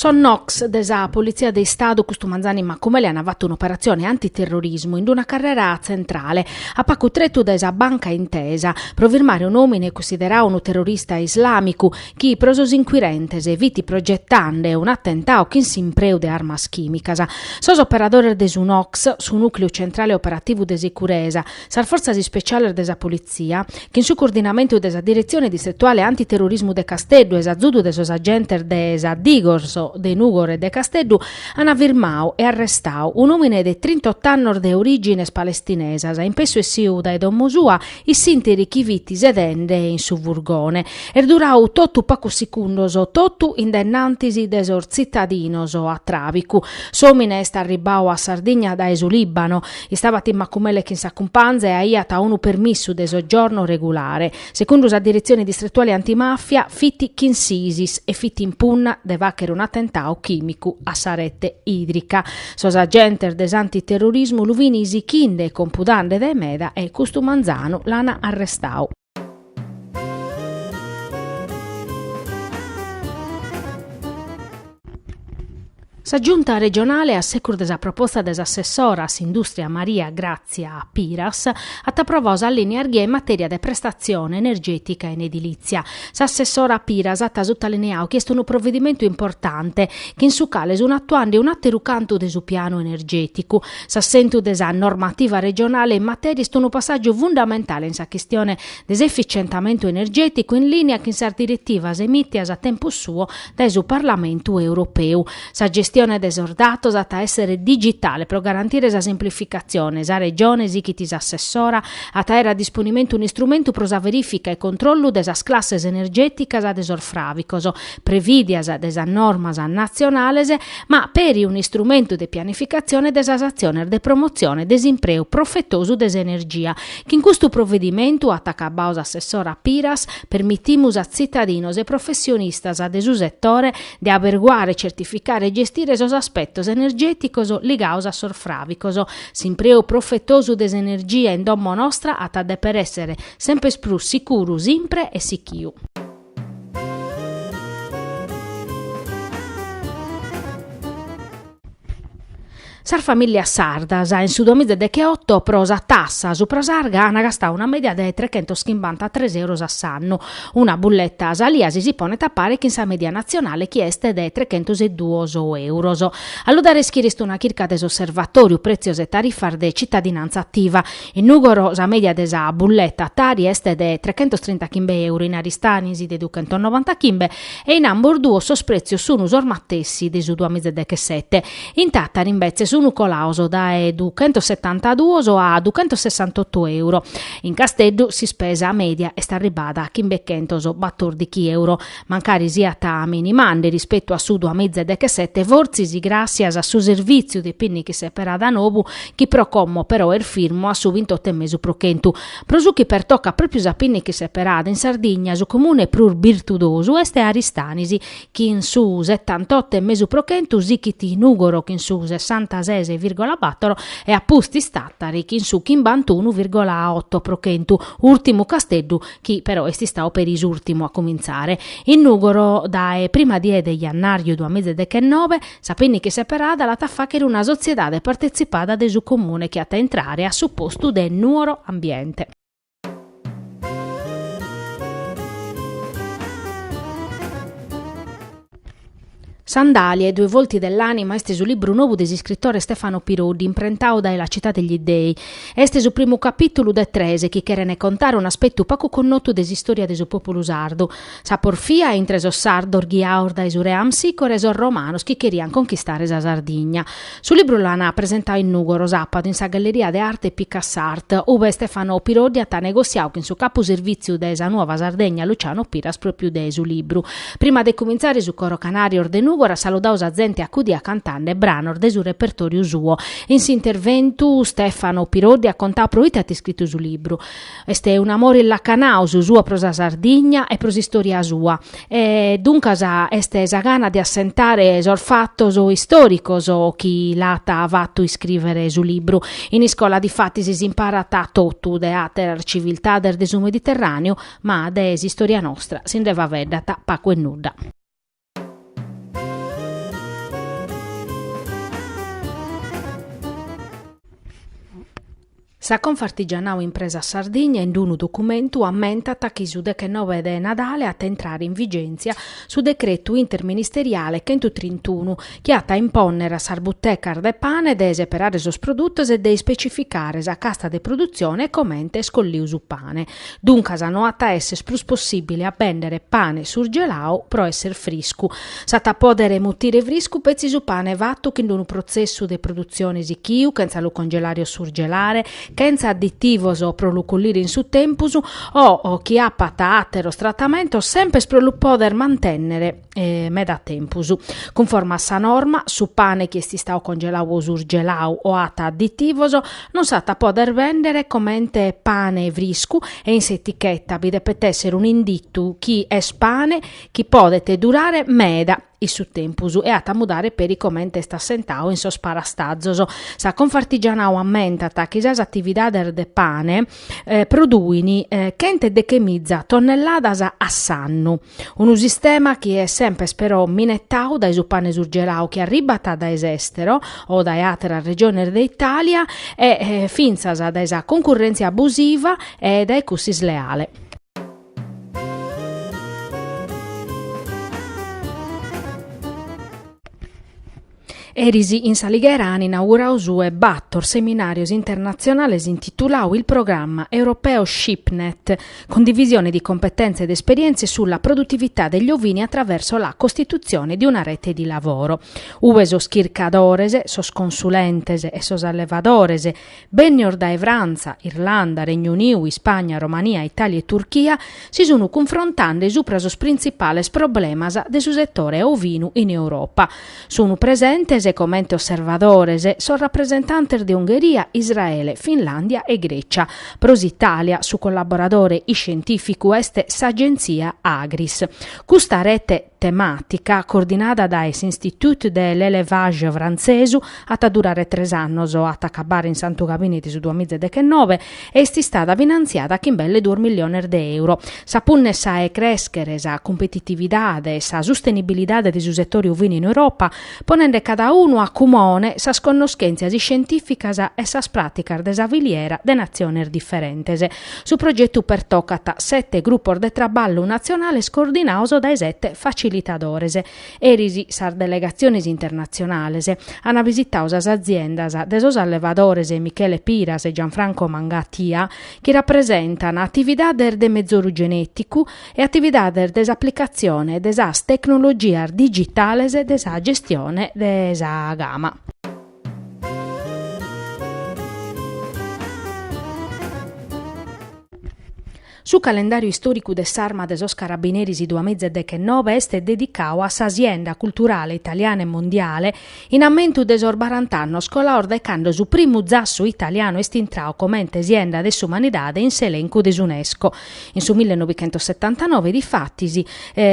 Sos NOCS de sa Politzia de Istadu custu manzanu in Macumele an fatu un'operatzione antiterrorismu in una carrera tzentrale, a pacu tretu dae sa Banca Intesa, pro firmare un'òmine cunsiderau unu terrorista islàmicu, chi pro sos inquirentes fit progetande un'atentau chin s'impreu de armas chìmicas. Sos operadores de su NOCS, su Nùcleu Centrale Operativu de Sicuresa, sas fortzas ispeciales de sa Politzia, chin su coordinamentu de sa Diretzione Distretuale Antiterrorismu de Casteddu e s'azudu de sos agentes de sa Digos de Nùgoro e de Casteddu, an firmau e arrestau un'òmine de trintot'annos de orìgines palestinesas, in pessu essiu dae domo sua in s'interi chi fit sedende in su furgone, est durau totu pacos secundos, totu in dennantis de sos tzitadinos, a tràbicu. S'òmine est arribbau a Sardigna dae su Lìbano. Istabat in Macumele chin sa cumpanza e aiat unu permissu de soggiorno regulare. Segundu sa diretzione distretuale antimàfia, fit chin s'Isis e fit in punna de fàchere un'atentau chìmicu a sa rete ìdrica. Sos agentes de s'antiterrorismu lu fin isichinde e compudande dae meda e, custu manzanu, l'an arrestau. Sa Giunta regionale, a secus de sa proposta de s'assessora a s'indùstria Maria Gràtzia Piras, at aprovau sas lìnias ghia in matèria de prestatzione energètica in edilìtzia, S'assessora Piras at sutalineau chi est unu provedimentu importante, chin su cale sun atuande un'àteru cantu de su pianu energèticu. S'assentu de sa normativa regionale in matèria est unu passàgiu fundamentale in sa chistione de s'efficientamentu energèticu in lìnia chin sas diretivas emìtias a tempus suo dae su Parlamentu europeu. Sa gestione de sos datos at a èssere digitale pro garantire sa simplificatzione, sa Regione, sichit s'assessora, at a àere a disponimentu un'istrumentu pro sa verìfica e controllu de sas classes energèticas de sos fràvicos prevìdias de sas normas natzionales, ma peri un'istrumentu de pianificatzione de sas atziones de promotzione de s'impreu profetosu de s'energia. Chin custu provedimentu, at acabau s'assessora Piras, permitimus a tzitadinos e professionistas de su setore, de aberguare, certificare e gestire sos aspetos energèticos ligaos a sos fràvicos. S'impreu profetosu de s'energia in domo nostra at a dèpere èssere semper prus sicuru, simpre e sichiu. Sas famìllias sardas in su duamiza e decheoto pro sa tassa supra s'arga ant gastadu una mèdia de trechentoschimbantatres euros a s'annu, una bulleta salia si ponet a pare chin sa mèdia natzionale chi est de trechentos e duos euros. A lu dare ischire est una chirca de s'Osservatòriu prètzios e tarifas de tzitadinantza ativa. In Nùgoro sa mèdia de sa bulleta Tari est de trechentostrintachimbe euro, in Aristanis de duchentonovantachimbe e in ambos duos sos pretzios sun sos matessi de su duamizadechesete. In Tàtari imbetzes sun colados dae duchentosetantaduos a duchentosessantotu euro. In Casteddu s'ispesa mèdia est arribada a chimbechentos batordichi euro, mancari siat minimande rispetu a su duamizadechesete fortzis gràssias a su servìtziu de pinniche seperada nou chi pro como però est firmu a su bintoto e mesu pro chentu, Pro su chi pertocat pròpiu sa pinniche seperada, in Sardigna su comune prus birtudosu est Aristanis, chin su setantoto e mesu pro chentu sichit Nùgoro chin su sessantases vìrgola bàtoro e a pustis Tàtari chin su chimbantunu vìrgola oto pro chentu, ùrtimu Casteddu chi però est istadu peri s'ùrtimu a cumintzare. In Nùgoro dae prima die de jannàriu duamiza e dechenobe, Sa pinniche seperada l'at a fàghere una sotziedade partetzipada de su Comune chi at a intrare a su postu de Nuoro Ambiente. Sandahlia, i due volti dell'anima est su libru nou de s'iscritore Stefano Piroddi, imprentadu dae La città degli dei. Est su primu capìtulu de tres chi cherent contare un'aspetu pagu connotu de s'istòria de su pòpulu sardu. Sa porfia intre sos sardos ghiados dae su re Amsicora e sos romanos chi cherian conchistare sa Sardigna. Su libru l'an presentadu in Nùgoro sàpadu in sa Galleria de Arte Picassart, ube Stefano Piroddi at negotziadu chin su capu servìtziu de Sa Nuova Sardegna Luciano Piras pròpiu de su libru. Prima de cumintzare su Coro Canarjos de Nùgoro at saludadu sa zente acudia cantande branos de su repertòriu suo. In s'interventu Stefano Piroddi at contadu pro ite at iscritu su libru. Est un'amore illacanau su suo pro sa Sardigna e pro s'istòria sua e, duncas, est sa gana de assentare sos fatos istòricos chi l'at fatu iscrìvere su libru. In iscola difatis s'imparat totu, de àteras civiltades de su Mediterràneu, ma de s'istòria nostra si nde faveddat pagu e nudda. Sa Confartigianau Impresas Sardigna in unu documentu ammentat chi su dechenove de Nadale at a intrare in vigèntzia su decretu interministeriale chentutrintunu chi at a impònnere a sas butecas de pane de seperare sos produtos e de ispecificare sa casta de produtzione e comente est colliu su pane. Duncas no at a esser prus possibile a bèndere pane surgelau pro esser friscu. S'at a pòdere mutire friscu petzi su pane fatu chin unu protzessu de produtzione sichiu, chentza lu congelare o surgelare, chentza additivos pro lu collire in su tempus o chi apat àteros tratamentos, sempes pro lu pòdere mantènnere. meda tempus. Cunforma a sa norma, su pane chi est istau congelau o surgelau o at additivos non s'at a poder vendere comente pane friscu e in s'etichetta bi depet esser un'inditu chi est pane chi podet durare meda in su tempus e at a mudare peri comente est assentau in sos parastazos. Sa Confartigianau ammentat chi sas atividades de pane produin chentedechemiza tonnelladas a s'annu. Unu sistema chi est sempes però minetau dae su pane surgelau chi arribat dae s'èstero o dae àteras regiones de Itàlia e fintzas dae sa concurrèntzia abusiva e dae cussa isleale. Eris in s'Alighera an inaugurau su 'e bator seminàrios internatzionales intitulau Il programma europeo SheepNet, condivisione di competenze ed esperienze sulla produttività degli ovini attraverso la costituzione di una rete di lavoro, ue sos chircadores, sos consulentes e sos allevadores, Bennios dae Frantza, Irlanda, Regnu Uniu, Ispagna, Romania, Itàlia e Turchia si sunu cunfrontande supra sos printzipales problemas de su setore ovinu in Europa. Sunu presentes comente osservadores sos rapresentantes de Ungheria, Israele, Finlàndia e Grècia. Pro s'Itàlia su collaboradore iscientìficu est s'agentzia Agris. Custa rete Temàtica, coordinada dae s'Institut de l'Elevage frantzesu, at a durare tres annos, at a acabare in Santu Gabine de su duamiza e dechennove e est istada finantziada chin belle duos milliones de euro. Sa punna est sa 'e crèschere sa cumpetitividade e sa sustenibilidade de su setore ovinu in Europa, ponende cada unu a cumone sas connoschèntzias iscientìficas e sas pràticas de sa filiera de natziones diferentes. Su progetu pertocat sete grupos de traballu natzionales coordinaos dae sete facilitadores. Eris sas delegatziones internatzionales an visitau sas aziendas de sos allevadores Michele Piras e Gianfranco Mangatia chi rapresentan atividades de mezoru genèticu e atividades de s'aplicatzione de sas tecnologias digitales de sa gestione de sa gama. Su calendàriu istòricu de s'Arma de sos Carabineris duamiza e deghennobe est dedicadu a sa sienda culturale italiana e mondiale in ammentu de sos barant'annos colados dae cando su primu zassu italianu est intradu comente sienda de s'umanidade in s'elencu de s'Unesco. In su millenovichentossetantanove, difatis,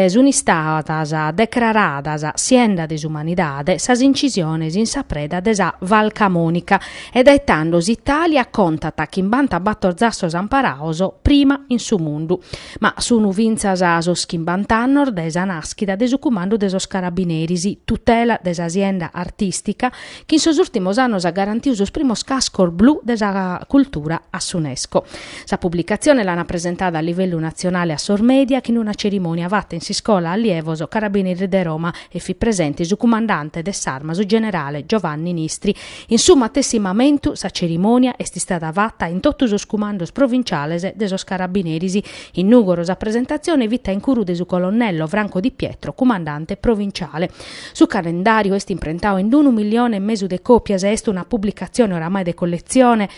sunt istadas decraradas Sienda de s'Umanidade sas incisiones in sa preda de sa Val Camonica e dae tando s'Italia contat chimbanta bator tzassos amparados prima in su mundu. Ma sunt fintzas sos chimbant'annos dae sa nàschida de su cumandu de sos Carabineris, tutela de sa sienda artìstica chi in sos ùrtimos annos at garantiu sos primos cascos blu de sa cultura a s'Unesco. Sa publicatzione l'ant presentada a livellu natzionale a sos mèdia chin una cerimònia fata in s'Iscola Allievos Carabineris de Roma e fit presente su cumandante de s'Arma su generale Giovanni Nistri. In su matessi mamentu sa cerimònia est istada fata in totu sos cumandos provinciales de sos Carabineris. In Nùgoro sa presentatzione fit a incuru de su colonnello Franco Di Pietro, cumandante provinciale. Su calendàriu est imprentau in unu milione e mesu de còpias e est una publicatzione oramai de colletzione,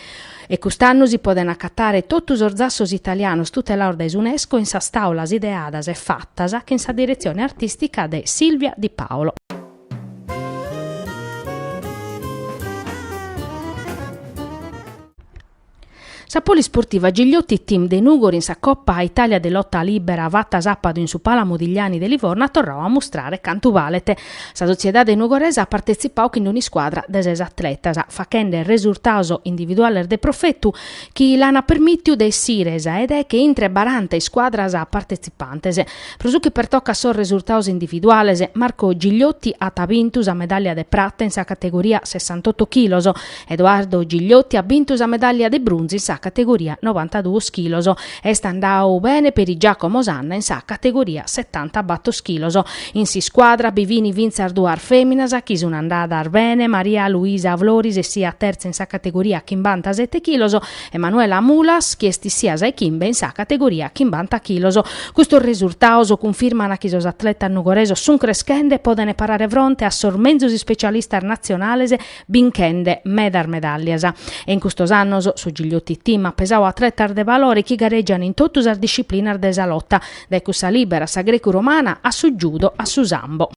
e cust'annu si podent acatare totu sos zassos italianos tutelados dae s'Unesco in sas tàulas ideadas e fatas chin sa diretzione artìstica de Silvia Di Paolo. Sa polisportiva Gigliotti Team de Nùgoro in sa Coppa Italia de Lotta Libera fata sàpadu in su Pala Modigliani de Livorno at torrau a mustrare cantu balet. Sa sotziedade nugoresa at partetzipau chin un'iscuadra de ses atletas, faghende resurtaus individuales de profetu chi l'ant permìtiu de essire sa 'e deche intre baranta iscuadras partetzipantes. Pro su chi pertocat sos resurtaus individuales, Marco Gigliotti at bintu sa medàllia de prata in sa categoria sessantoto chilos, Edoardo Gigliotti at bintu sa medàllia de brunzu in sa categoria novantaduos chilos. Est andadu bene peri Giacomo Sanna in sa categoria setantabator chilos. In s'iscuadra bi fin fintzas duas fèminas chi sun andadas bene, Maria Luisa Floris est issìa tertza in sa categoria chimbantasete chilos e Manuela Mulas chi est issìa sa 'e chimbe in sa categoria chimbanta chilos. Custos resurtados cunfirman chi sos atletas nugoresos sun creschende e podent parare fronte a sos menzus ispecialistas natzionales binchende medas medàllias e in custos annos su Gigliotti Team at pesadu atletas de valore chi gareggian in totu sas disciplinas de sa lota, dae cussa lìbera a sa grecu-romana a su judo a su sambo.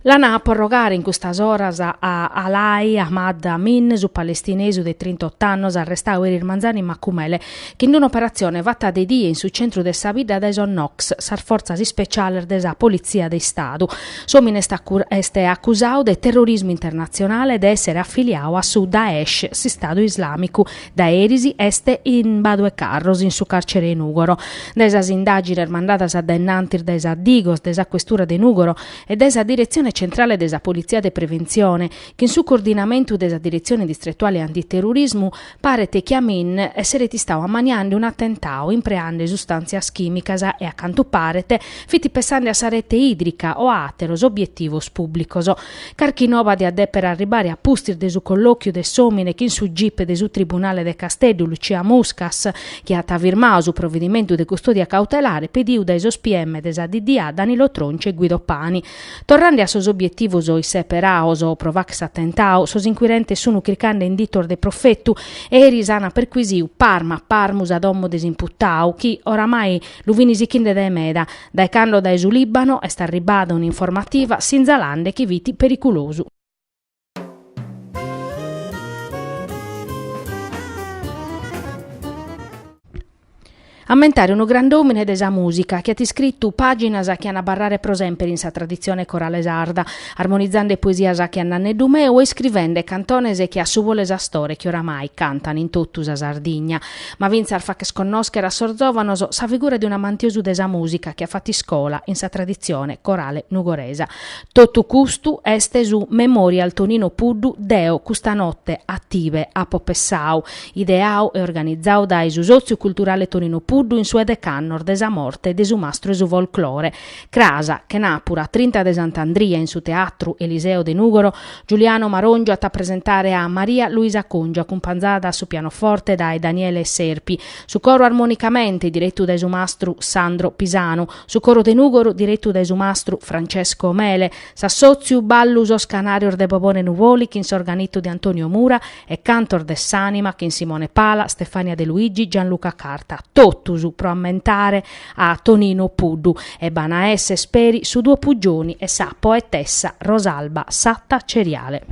L'an a porrogare in custas oras a Alai Ahmad Amin, su palestinesu de trintotto annos arrestadu eris manzanu in Macumele, chin un'operatzione fata de die in su centru de sa bidda dae sos NOCS, sas fortzas ispeciales de sa Politzia de Istadu, s'òmine est acusadu de terrorismu internatzionale e de èssere afiliadu a su Daesh, s'Istadu Islàmicu. Dae eris est in Badu 'e Carros in su càrcere 'e Nùgoro. Dae sas indàgines mandadas dae in antis dae sa Digos de sa questura de Nùgoro, e dae sa Diretzione Centrale de sa Politzia de Preventzione, chin su coordinamentu de sa Diretzione Distretuale Antiterrorismu, paret chi Amin esseret istadu ammaniende un'atentadu impreende sustàntzias chìmicas e, a cantu paret, fit pensende a sa rete ìdrica o a àteros obietivos pùblicos. Carchi noba diat dèpere arribare a pustis de su collòchiu de s'òmine chin su gip de su Tribunale de Casteddu, Lucia Muscas, chi at firmadu su provedimentu de custòdia cautelare pedidu dae sos PM de sa DDA Danilo Tronci e Guido Pani. Torrende a sos obietivos isseperados pro fagher s'atentadu, sos inquirentes sun cricande inditos de profetu e eris an perquisidu parmu a parmu sa domo de s'imputadu chi, oramai, lu fin sichinde dae meda, dae cando dae su Libano est arribada un'informativa sinzalande chi fit perigulosu. Ammentare unu grand'òmine de sa mùsica chi at iscritu pàginas chi an a abarrare pro semper in sa traditzione corale sarda, armonizende poesias che a Nanneddu meu e iscrivende cantones che a Su bolu 'e s'astore chi oramai cantan in totu sa Sardigna. Ma fintzas fàcher connòschere a sos zòvanos sa figura de un'amantiosu de sa mùsica chi at fatu iscola in sa traditzione corale nugoresa. Totu custu est su Memorial Tonino Puddu deo custa note a tibe apo pessau, ideau e organizau dae su Sòtziu Culturale Tonino Puddu in su 'e decannos de sa morte de su mastru 'e su folklore, cras, chenàpura trinta de Sant'Andria in su Teatru Eliseo de Nùgoro, Giuliano Marongiu at a presentare a Maria Luisa Congiu acumpanzada a su pianoforte dae Daniele Serpi, su coro armonicamente direttu dae su mastru Sandro Pisanu, Su coro de Nùgoro direttu dae su mastru Francesco Mele, s'assòtziu Ballu sos canàrios de Bobone Nuvoli chin s'organittu de Antonio Mura e cantos de s'ànima chin Simone Pala, Stefania De Luigi, Gianluca Carta, totus pro ammentare a Tonino Puddu e b'an a esser peri su duo Puggioni e sa poetessa Rosalba Satta Ceriale.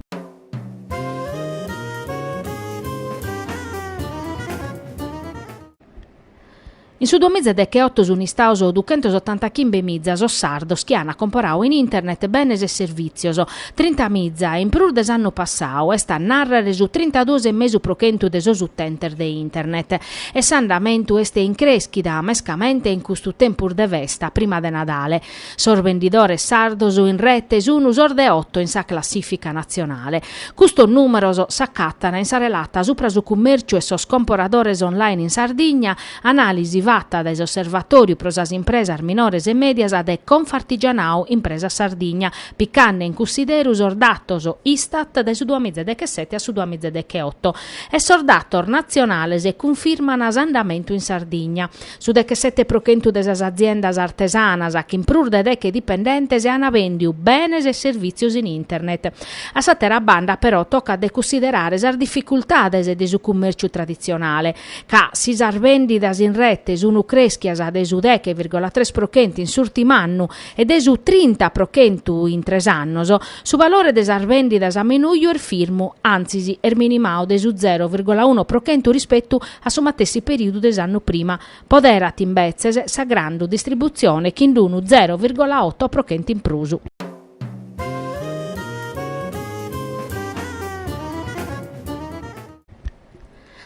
In su duamiza e decheoto sunt istados duchentos otanta chimbe miza sos sardos chi ant comporadu in internet benes e servìtzios, trinta miza in prus de s'annu passadu, est a nàrrere su trintaduos e mesu pro chentu de sos utentes de internet. E s'andamentu est in crèschida, mescamente in custu tempus de festa, prima de Nadale. Sos bendidores sardos in rete sun sos de oto in sa classìfica natzionale. Custos nùmeros s'acàtana in sa relata supra su cummèrciu e sos comporadores online in Sardigna, anàlisi fata dae s'Osservatòriu pro sas impresas minores e mèdias de Confartigianao Impresas Sardigna, picande in cunsideru sos datos Istat dae su duamiza e dechesete a su duamiza e decheoto e sos datos natzionales cunfirman s'andamentu in Sardigna. Su dechesete pro chentu de sas aziendas artesanas chin prus de deche dipendentes an vèndiu benes e servìtzios in internet. A s'àtera banda, però, tocat de cunsiderare sas dificultades de su cummèrciu traditzionale, ca si sas vèndidas in rete sunt crèschias de su deche virgola tres pro chentu in s'ùrtimu annu e de su trinta pro chentu in tres annos, su valore de sas vèndidas a menuju est firmu, antzis est minimau de su zero virgola uno pro chentu rispetu a su matessi perìudu de s'annu prima, poderat imbetzes sa grandu distributzione chin d'unu zero virgola oto pro chentu in prus.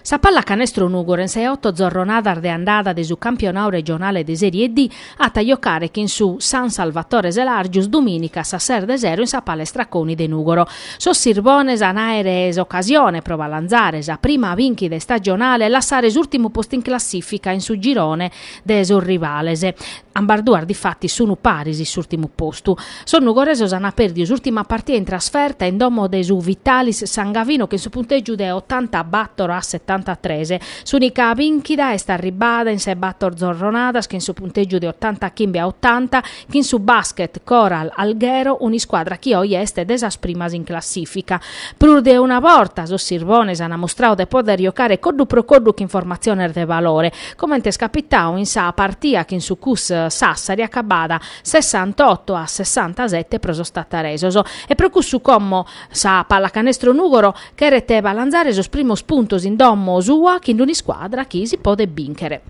Sa pallacanestro Nùgoro in sas oto zorronadas de andada de su campionau regionale de Serie D At a jocare chin su San Salvatore Selàrgius dumìnica a sas ses de sero in sa Palestra Coni de Nùgoro. Sos sirbones an àere s'ocasione pro balanzare sa prima bìnchida istagionale e lassare s'ùrtimu postu in classìfica in su girone de sos rivales. Ambas duas difatis sun paris in s'ùrtimu postu. Sos nugoresos an pèrdiu s'ùrtima partia in trasferta in domo de su Vitalis San Gavino chin su puntègiu de otanta bàtoro a setanta tres. S'ùnica bìnchida est arribbada in sas bator zorronadas chin su puntègiu de otanta chimbe a otanta chin su Basket Coral Alghero, un'iscuadra chi oje est de sas primas in classìfica. Prus de una borta sos sirbones ant mustrau de pòder jocare coddu pro coddu chin formatziones de valore, comente est capitau in sa partia chin su Cus Sassari acabbada sessantotto a sessantasette pro sos tattaresos e pro cussu como sa Pallacanestro Nùgoro Cheret balanzare sos primos puntos in domo sua chin d'un'iscuadra chi si podet bìnchere.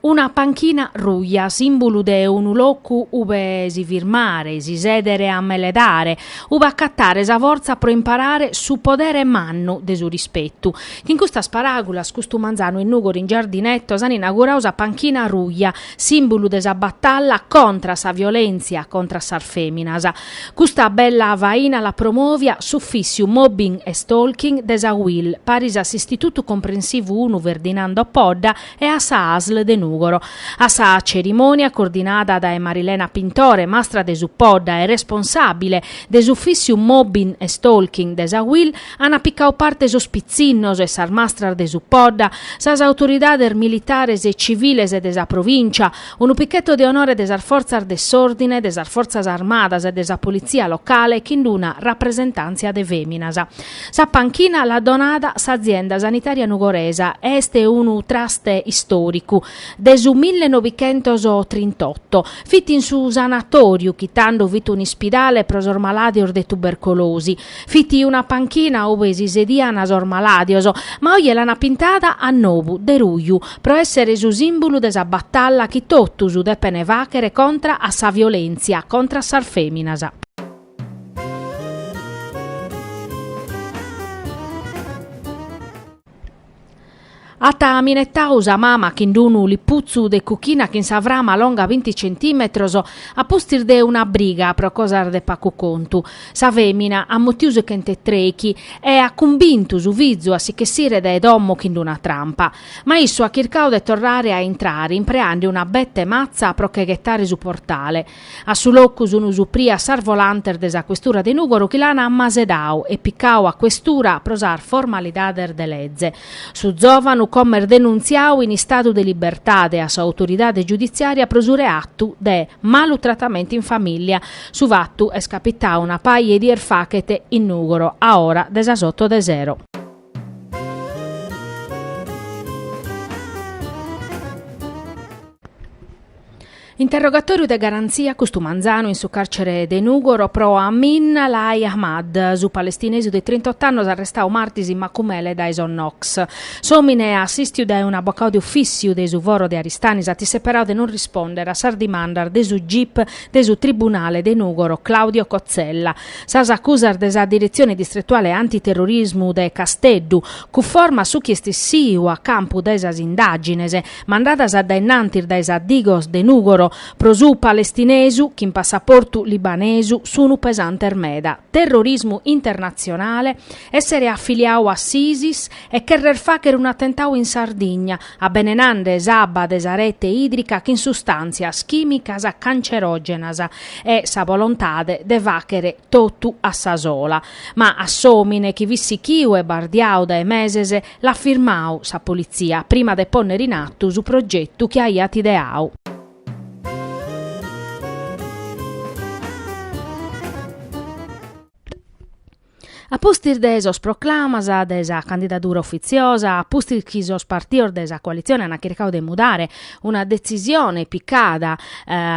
Una panchina ruja, sìmbulu de unu locu ube si firmare, si sèdere a meledare, ube acatare sa fortza pro imparare su podere mannu de su rispetu. Chin custas paràgulas custu manzanu in Nùgoro in Giardineto s'an inaugurau sa panchina ruja, sìmbulu de sa batalla contra a sa violèntzia contra a sas fèminas. Custa bella faina l'at promòvia s'Ufìssiu Mobbing e Stalking de sa UIL, paris a s'Istitutu Comprensivu unu Ferdinando Podda e a sa ASL de Nùgoro. A sa cerimònia, coordinada dae Marilena Pintore, mastra de su Podda e responsàbile de s'Ufìssiu Mobbing e Stalking de sa UIL, Ant picau parte sos pitzinnos e sas mastras de su Podda, sas autoridades militares e civiles de sa provìncia, unu pichetto de onore de sas fortzas de s'òrdine, de sas fortzas armadas e de sa politzia locale chin d'una rapresentàntzia de fèminas. Sa panchina l'at donada s'azienda sanitària nugoresa e est unu traste istòricu. De su mille noichentos trintotto fit in su sanatòriu chi tando fit un'ispidale pro sos malàdios de tubercolosi. Fit una panchina ue si sedian sos malàdios, ma oje l'an pintada a nou, de ruju, pro èssere su sìmbulu de sa batalla chi totus depen fàchere contra a sa violèntzia contra a sas fèminas. At minetadu sa mama chin d'unu liputzu de cuchina chin sa frama longa binti centimetros, a pustis de una briga pro cosas de pagu contu. Sa femina at mutiu su chent'e treichi e at cumbintu su fizu a si ch'essire dae domo chin d'una trampa. Ma issu at chircadu de torrare a intrare impreande una bete matza pro che ghetare su portale. A su locu sunu suprias sas volantes de sa Questura de Nùgoro chi l'an ammasedadu e picadu a Questura pro sas formalidades de leze. Su zòvanu como est denuntziadu in istadu de libertade a s'autoridade giuditzìaria pro su reatu de malu tratamentu in famìllia. Su fatu est capitadu una paja 'e dies fachet in Nùgoro a ora de sas oto de sero. Interrogatòriu de garantzia custu manzanu in su càrcere de Nùgoro pro Amin Alai Ahmad, su palestinesu de trintot'annos arrestadu martis in Macumele dae sos NOCS. S'òmine, assìstidu dae un'abocau de ofìtziu de su foro de Aristanis, at isseperadu de non rispòndere a sas dimandas de su gip de su tribunale de Nùgoro Claudio Cozzella, Sas acusas de sa Diretzione Distretuale Antiterrorismu de Casteddu cunforma su chi est essiu a campu de sas indàgines mandadas a dainnantis dae sa Digos de Nùgoro pro su palestinesu chin passaportu libanesu sunu pesantes meda terrorismu internatzionale essere afiliadu a s'Isis e cherrer fagher un'atentadu in Sardigna abbenenande s'abba de sa rete ìdrica chin sustàntzias chìmicas cancerògenas e sa volontade de fàchere totu a sa sola. Ma a s'òmine chi fit sichiu e bardiadu dae meses l'at firmadu sa politzia prima de pònnere in atu su progetu chi aiat ideadu. A pustis de sos proclamas de sa candidadura ufitziosa, a pustis chi sos partidos de sa coalitzione ant chircadu de mudare una detzisione picada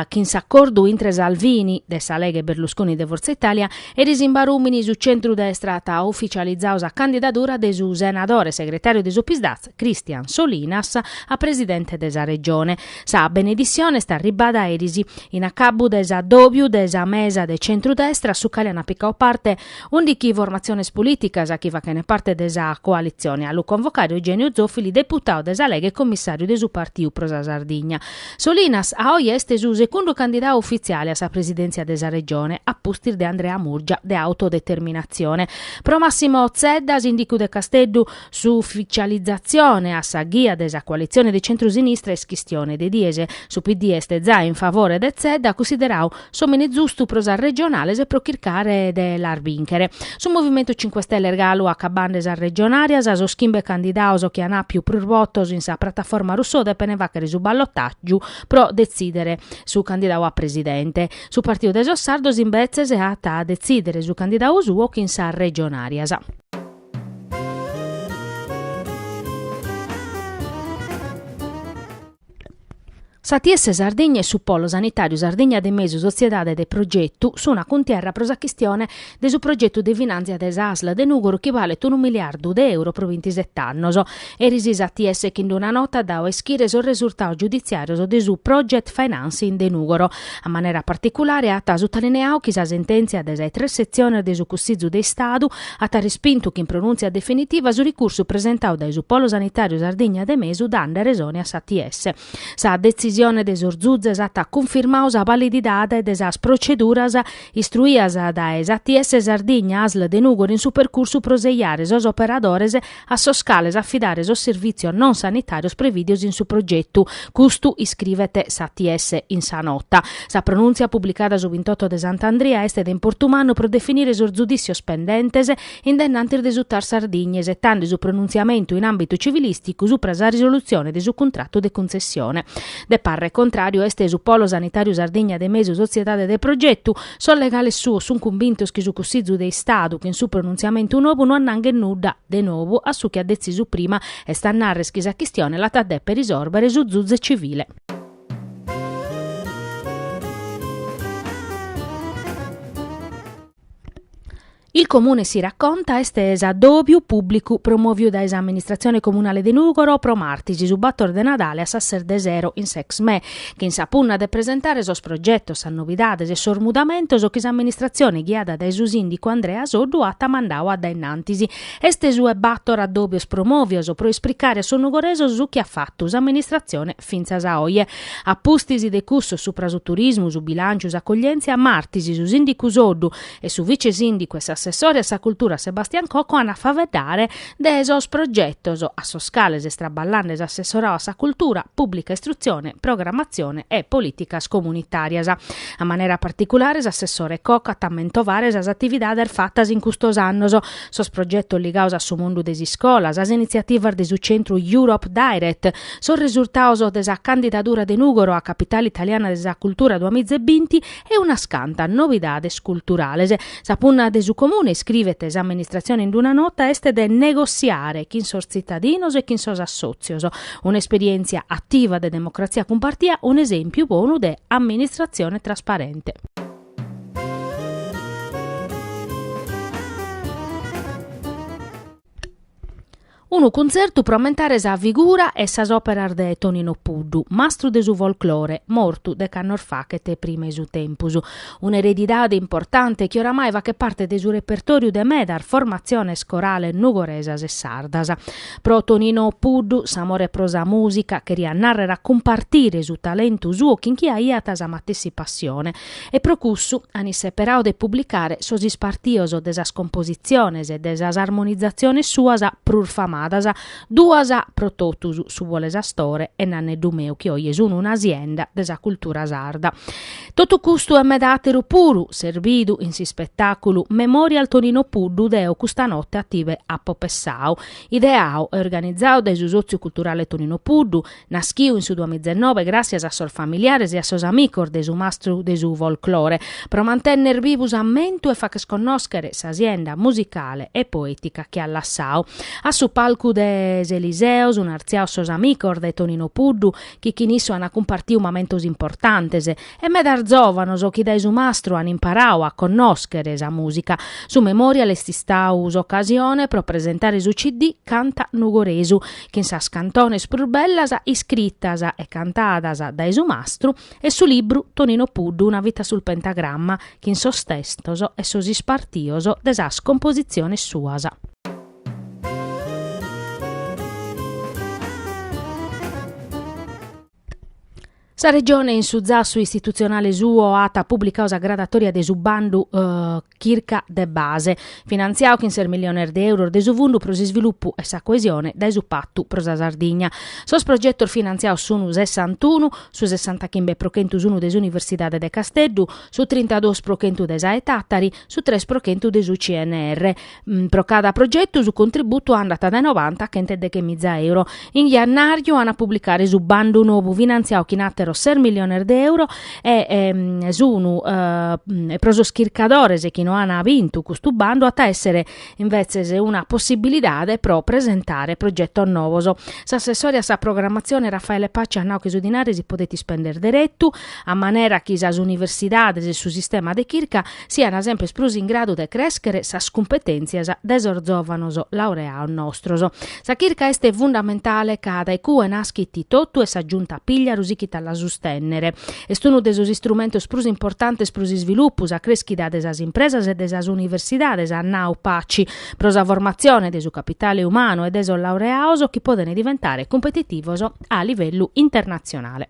chin s'acordu intre Salvini, de sa Lega e Berlusconi, de Forza Italia, eris in Barumini su centru-destra at uficializadu sa candidadura de su senadore segretàriu de su Psd'Az, Christian Solinas a presidente de sa Regione. Sa beneditzione est arribbada eris in acabbu de s'addòbiu de sa mesa de centru-destra a su cale ant picau parte undichi formatziones polìticas chi fachent parte de sa coalitzione. A lu convocare Eugenio Zoffili, deputau de sa Lega e commissàriu de su partiu pro sa Sardigna. Solinas a oe est su segundu candidau ufitziale a sa presidèntzia de sa Regione, a pustis de Andrea Murgia de Autodeterminatzione. Pro Massimo Zedda, sìndicu de Casteddu, S'uficializatzione a sa ghia de sa coalitzione de centru-sinistra est chistione de dies. Su PD est zai in favore de Zedda, cussideradu s'òmine zustu pro sas regionales e pro chircare de las bìnchere. Su Movimentu Cinque Stelles galu acabande sas regionàrias, sos chimbe candidados chi an àpiu prus votos in sa prataforma Rousseau depene fàchere su ballotàgiu pro detzìdere su candidadu a presidente. Su Partidu de sos Sardos imbetzes at a detzìdere su candidadu suo chin sas regionàrias. S'ATS Sardigna e su Polo Sanitàriu Sardigna de Mesu Sotziedade de Progetu sun a cuntierra pro sa chistione de su progetu de finàntzia de sa Asl de Nùgoro chi balet unu miliardu de euro pro bintiset'annos. Eris s'ATS chin d-una nota at dau a ischire sos resurtados giuditziàrios de su Project Financing de Nùgoro. A manera particulare at sutalineadu chi sa sentèntzia de sa tres setzione de su Cussìgiu de Istadu at respintu chin pronùntzia definitiva su ricursu presentadu dae su Polo Sanitàriu Sardigna de Mesu dande resone a s'ATS. Sa detzisione de sos Zuzes at cunfirmadu sa valididade de sas proceduras istruidas dae s'ATS Sardigna, asl de Nùgoro in su percursu pro seiare sos operadores a sos cales afidare sos servìtzios non sanitàrios prevìdios in su progetu, custu iscrivet s'ATS in sa nota. Sa pronùntzia publicada su bintotto de Sant'Andria est de importu mannu pro definire sos zudìtzios pendentes in dennantis de su tar Sardigna isetande su pronuntziamentu in àmbitu civilìsticu supra sa risolutzione de su cuntratu de cuntzessione. De parre contràriu est su Polo Sanitàriu Sardigna de Mesu Sotziedade de Progetu, Sos legales suos sun cumbintos chi su Cussizu de Istadu, chin su pronuntziamentu nobu, no annanghet nudda, de nobu, a su chi at detzisu prima, est a narrer chi sa chistione l'at a deper risòrbere su Zuze Civile. Il Comune si racconta est s'addòbiu pùblicu promòviu dae sa amministratzione comunale de Nùgoro pro martis, su bator de Nadale a sas ses de sero in s'Exmè, chin sa punna de presentare sos progetos, sas novidades e sos mudamentos chi s'amministratzione ghiada dae su sìndicu Andrea Soddu at mandadu a dae innantis. Est su 'e bator addòbios promòvios pro ispricare a sos nugoresos su chi at fatu s'amministratzione fintzas a oje. A pustis de cussos supra su turismu, su bilànciu, s'accoglièntzia, martis, su sìndicu Soddu e su vice-sìndicu e assessore a sa cultura Sebastian Cocco ant a faeddare de sos progetos a sos cales est traballande s'assessorau a sa cultura, pùblica istrutzione, programmatzione e polìticas comunitàrias. A manera particulare s'assessore Cocco at a mentovare sas atividades fatas in custos annos, sos progetos ligados a su mundu de s'iscolas, sas initziativas de su centru Europe Direct, sos resurtados de sa candidadura de Nùgoro a Capitale Italiana de sa Cultura duamizebinti e unas cantas novidades culturales. Sa punna de su Comune, iscrivet s'amministratzione in una nota, est de negotziare chin sos tzitadinos e chin sos assòtzios. Un'esperièntzia ativa de democratzia cumpartia, un'esèmpiu bonu de amministratzione trasparente. Unu cuntzertu pro ammentare sa figura e sas òperas de Tonino Puddu, mastru de su folklore, mortu dec'annos fachet prima 'e su tempus. Un'eredidade importante chi oramai fachet parte de su repertòriu de medas formatziones corales nugoresas e sardas. Pro Tonino Puddu s'amore pro sa mùsica cheriat nàrrere a cumpartire su talentu suo chin chie aiat sa matessi passione e pro cussu ant isseperau de publicare sos ispartios de sas compositziones e de sas armonizaziones suas prus famadas, duas pro totus, Su bolu 'e s'astore e Nanneddu Meu chi oje sun una sienda de sa cultura sarda. Totu custu e med'àteru puru s'est bidu in s'ispetàculu Memorial Tonino Puddu deo custa note a tibe apo pessau. Ideau e organizau dae su Sòtziu Culturale Tonino Puddu, naschiu in su duamizenoe gràssias a sos familiares e a sos amicos de su mastru de su folclore, pro mantenner bivu s'ammentu e facher connòschere sa sienda musicale e poètica chi at lassau. A su palcu de s'Eliseo sun artziaos sos amicos de Tonino Puddu chi chin issu ant cumpartiu mamentos importantes, e medas zòvanos chi dae su mastru ant imparau a connòschere sa mùsica. Su Memorial est istau s'ocasione pro presentare su CD Canta Nugoresu, chin sas cantones prus bellas iscritas e cantadas dae su mastru, e su libru Tonino Puddu, una vita sul pentagramma, chin sos testos e sos ispartios de sas compositziones suas. Sa Regione in su zassu istitutzionale suo at publicadu sa gradatòria de su bandu Chirca de base, finantziadu chin ses miliones de euros de su Fundu pro s'isvilupu e sa coesione dae su Patu pro sa Sardigna. Sos progetos finantziados sun sessantunu, su sessantachimbe pro chentu sun de s'Universidade de Casteddu, su trintaduos pro chentu de sa 'e Tàtari, su tres pro chentu de su CNR. Mm, pro cada progetu su contributu andat dae noranta a chent'e deghe miza euro. In jannàriu ant a publicare su bandu nou finantziadu chin àteros ses miliones de euros e ehm, s' unu eh, e pro sos chircadores chi no ant bintu custu bandu at a èssere invetzes una possibilidade pro presentare progetos novos. S'assessore a sa programmatzione Raffaele Paci at nau chi su dinare si podet ispender deretu, a manera chi sas universidades e su sistema de chirca sian semper prus in gradu de crèschere sas cumpetèntzias de sos zòvanos laureados nostros. Sa chirca est fundamentale ca dae cue naschit totu e sa Giunta Pigliaru sichit a la sustènnere. Est unu de sos istrumentos prus importantes pro s'isvilupu, sa crèschida de sas impresas e de sas universidades, at nau Paci, pro sa formatzione de su capitale umanu e de sos laureados chi podent diventare cumpetitivos a livellu internatzionale.